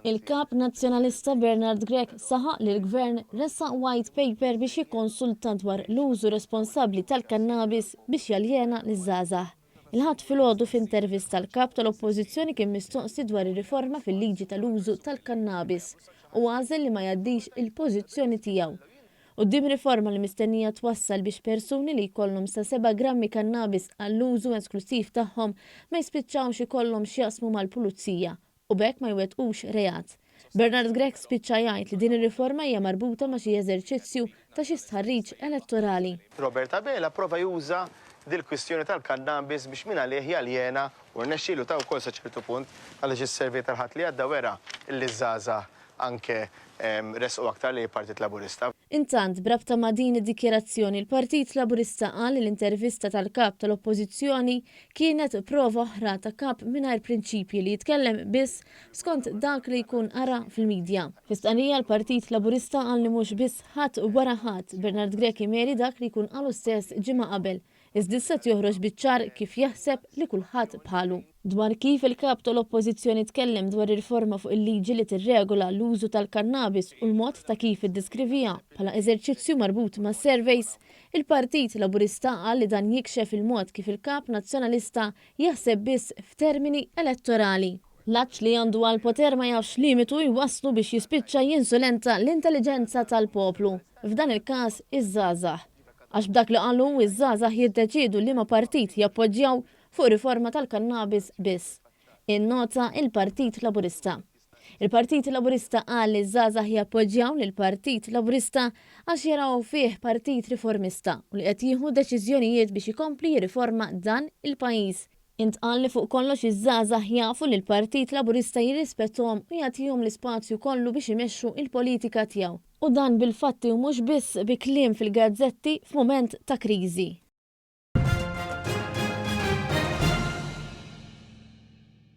Il-Kap Nazzjonalista Bernard Grech saħaq li l-Gvern ressaq White Paper biex jikkonsulta dwar l-użu responsabbli tal-kannabis biex jaljena liż-żgħażagħ. Il-Ħadd filgħodu f'intervista l-Kap tal-Oppożizzjoni kien mistoqsi dwar ir-riforma fil-liġi tal-użu tal-kannabis u għażel li ma jgħaddix il-pożizzjoni tiegħu Quddiem riforma li mistennija twassal biex persuni li jkollhom sa seba' grammi kannabis għall-użu esklussiv tagħhom ma jispiċċawx ikollhom x'jaqsmu mal-pulizija u b'hekk ma jwettqux reat, Bernard Grech spiċċa jgħid li din ir-riforma hija marbuta ma' xi eżerċizzju ta' xi stħarriġ elettorali. Robert Abela pprova juża dil-kwistjoni tal-kannabis biex mingħalih jaljena, u rnexxielu ta' wkoll sa ċertu punt, għaliex is-survey tal-Ħadd li għadda wera li ż-żgħażagħ anke ressqu aktar lejn il-Partit Laburista. Intant, b'rabta ma' din id-dikjarazzjoni l-Partit Laburista qal li l-intervista tal-Kap tal-Oppożizzjoni kienet prova oħra ta' Kap mingħajr prinċipji li jitkellem biss skont dak li jkun qara fil-midja. Fi stqarrija l-Partit Laburista qal li mhux biss ħadd wara ħadd, Bernard Grech imeri dak li jkun qalu stess ġimgħa qabel. Iżda issa qed joħroġ biċ-ċar kif jaħseb li kulħadd bħalu. Dwar kif il-Kap tal-Oppożizzjoni tkellem dwar ir-riforma fuq il-liġi li tirregola l-użu tal-kannabis u l-mod ta' kif iddeskriviha bħala eżerċizzju marbut ma' surveys, il-Partit Laburista qal li dan jikxef il-mod kif il-Kap Nazzjonalista jaħseb biss f'termini elettorali. L-għatx li għandu għall-poter ma jafx limitu jwasslu biex jispiċċa jinsulenta l-intelliġenza tal-poplu, f'dan il-każ iż-żgħażagħ. Għax b'dak li qal hu, iż-żgħażagħ jiddeċiedu liema partit jappoġġjaw fuq riforma tal-kannabis biss. Innota l-Partit Laburista. Il-Partit Laburista qal li ż-żgħażagħ jappoġġjaw lill-Partit Laburista għax jaraw fih partit riformista u li qed jieħu deċiżjonijiet biex ikompli jirriforma dan il-pajjiż. Intqal li fuq kollox iż-żgħażagħ jafu li l-Partit Laburista jirrispettahom u jagħtihom l-ispazju kollu biex imexxu l-politika tiegħu. U dan bil-fatti u mhux biss bi kliem fil-gazzetti f'mument ta' kriżi.